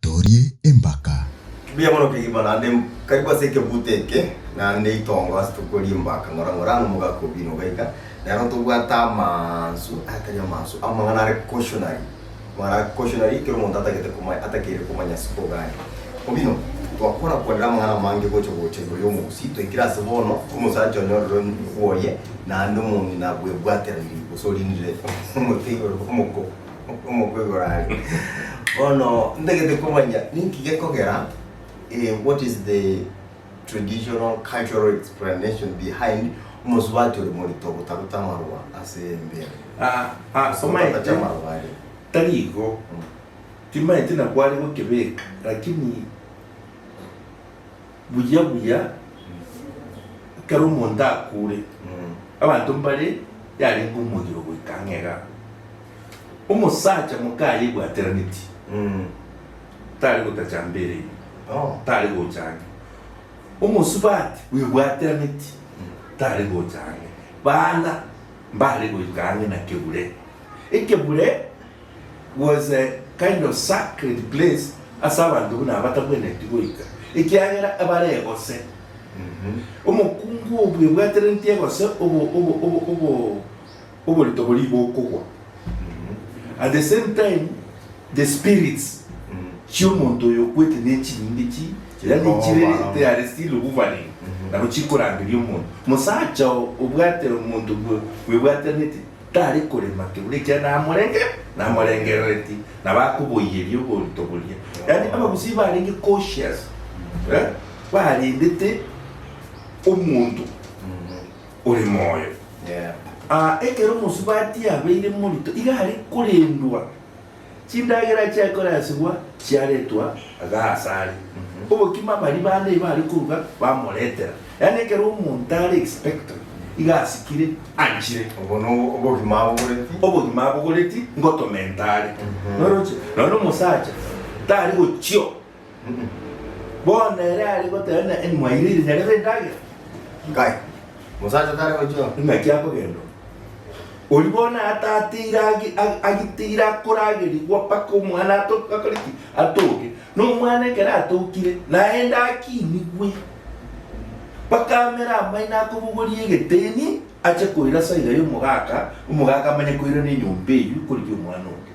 Torie Embaka. Mbuya mono kegima naende karibu ase ekebuto eke naende itongo ase tokore embaka ng'ora ng'ora anga mogaka obino iga iga nero tobwate amansu atari amansu amang'ana are cautionary. Mara koshio nario ekero omonto atagete komanya, atakeire komanya ase kogania. Omino, twakora kwanera amang'ana amange gocha gocha igoro y'omogusii, toikire ase bono, omosacha one ororo bwoye, naende omong'ina abwebwatera riiri, gose orindire omote igoro omoko, omoko igoro are. Bono, ntagete komanya ninki gekogera, eh, what is the. traditional cultural explanation behind omosubati ore morito gotaruta amarwa ase embere Aa aa somanyete Togotacha amarwa aria tari igo Mm. timanyete na kware gokebeka lakini buya buya ekero omonto akure Mm. abanto mbare yarenge omogiro goika ang'e igaa omosacha moka aye ebwateraneti Mm. tari gotacha mbere ime, tari gocha ang'e. Omosubati bwebwatianeti, tari gocha ang'e. Baana mbare goika ang'e na kebure. Ekebure was a kind of sacred place ase abanto buna abatabwenereti goika, ekiagera ebare egose. Omokungu oo bwebwatianeti egose obo, obo, obo, obo. oborito boria bokogwa at the same time the spirits chi'omonto oyo okwete nechinyinge chi yani chire they are still hovering nabo chikorangeria omonto mosacha oo obwate omonto bwe bwebwatanete tare korema kebura ekiagera namorenge namorengerereti nabo akoboyeria oborito boria yani abagusii barenge cautious eh, barendete omonto ore moyo. Aa ekero omosubati yabeire morito iga are korendwa, chindagera chiaye korasigwa chiaretwa iga asare. Obokima baria bande iba are koruga bamoretera, yaani ekero omonto are expectant iga asikire anchire. Obwo nobwo obogima abogoreti. Obogima abogoreti ngotomenta are. Noroche? Nonya omosacha tari gochio. Bono ere are goteba ng'a en mwaire ire nyarebe endagera. Nkai, mosacha tare gochia oo. Ing'aki akogenda oo. Oria bono aatateire agi- ag- agiteire akoragerigwa mpaka omwana ato- akore ki? Atoke. Na omwana ekero atokire, naende akinigwe mpaka amere amaino akobogoria egeteni ache koira ase aiga y'omogaka, omogaka amanye koirana enyomba eyio korigia omwana oria.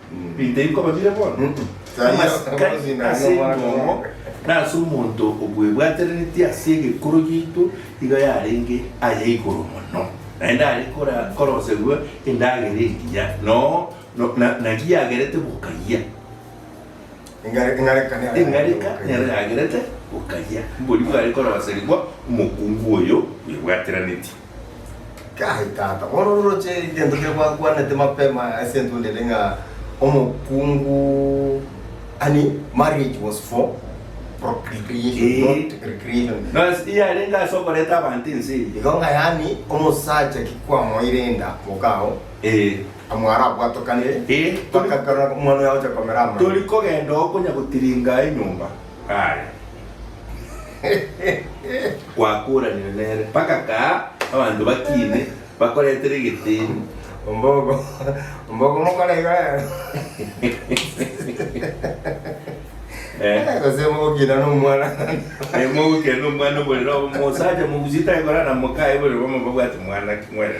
Rita iko babire bono? Amasika ase engongo na ase omonto obwebwatereretie ase egekuro giaito iga yarenge aya igoro mono, naende are kora korosegwa endagera engiya noo no na na giagerete bokayia. Eng'areka Eng'areka nero yagerete bokayia, mbori igo are korosegwa omokungu oyo bwebwateranetie. Kai tata, mororoche egento keria gwakwanete mapema ase entunda ere ng'a omokungu yaani marriage was for procreation Eeh. not recreation. Bas yarenge ase okoreta abanto ense eye. Igo ng'a yaani omosacha ki kwamoeire enda mokao Eeh. amo arabwatokanire Eeh. mpaka ekero omwana oyo agocha komera amang'ana. Tori kogenda oo konya gotiringa enyomba. kare. Gwakuranire nere mpaka kaa abanto bakiine bakoretere egeteni. Ombogo ombogo mokora iga rero. Eh. Gose mogokina nomwana. Eh, mogokenda omwana oborere obo mosacha mogusie takorara na mokaye oborere bomo babwate mwana ki mwerere.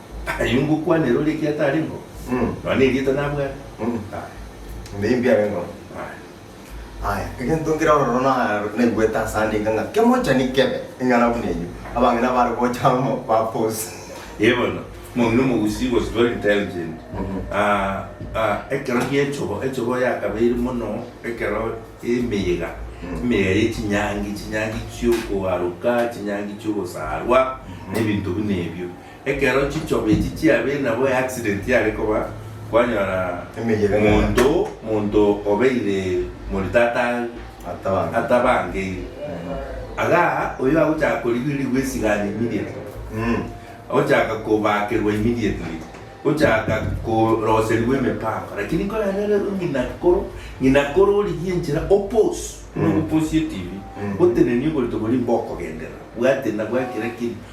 Aye ngokwanera oria ekiagera tari nko, nonya nerieta nabwate? Aye. Mbe mbiao enkoro. Aye. Aya, egento nkere ororo na- naigwete ase andika ng'a kemochani kebe eng'ana buna eyio, abange nabare gocha amo baposi. Ee bono, mong'ina omogusii was very intelligent. Ah, ah, ekero gi'echogo, echogo yakabeire mono ekero emeyega, emeyega ye chinyangi, chinyangi chi'okoaroka, chinyangi chi'ogosarwa, na ebinto buna ebio. Ekero chichoba echi chiabire nabo eaccident yare koba kwanyora monto monto obeire moritata atabangeire aga oyo agochaka korigiririgwa esigani immediately agochaka kobakerwa immediately gochaka koroserigwa emepango lakini koranere ng'ina koro ng'ina koro origie enchera opose buna ogoposie tv otenenie oborito boria mbokogenderera bwate nabwakira kiri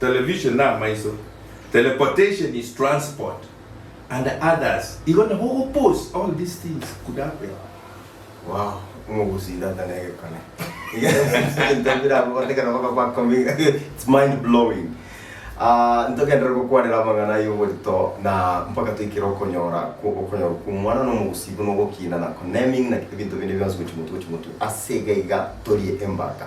Television namaiso, teleportation is transport and others igo nabo ogopost all these things could happen. Wow, omogusi tata negekone ebinto bire abwo batekana baka ba coming it's mind blowing. Ah, ntogenderere gokwanera amang'ana y'oborito na mpaka toikere okonyora kwo okonyorwa kw'omwana na omogusi buna ogokiina na conneming na ebinto binde bionsi gochia motu gochia motu. Ase iga iga torie embaka.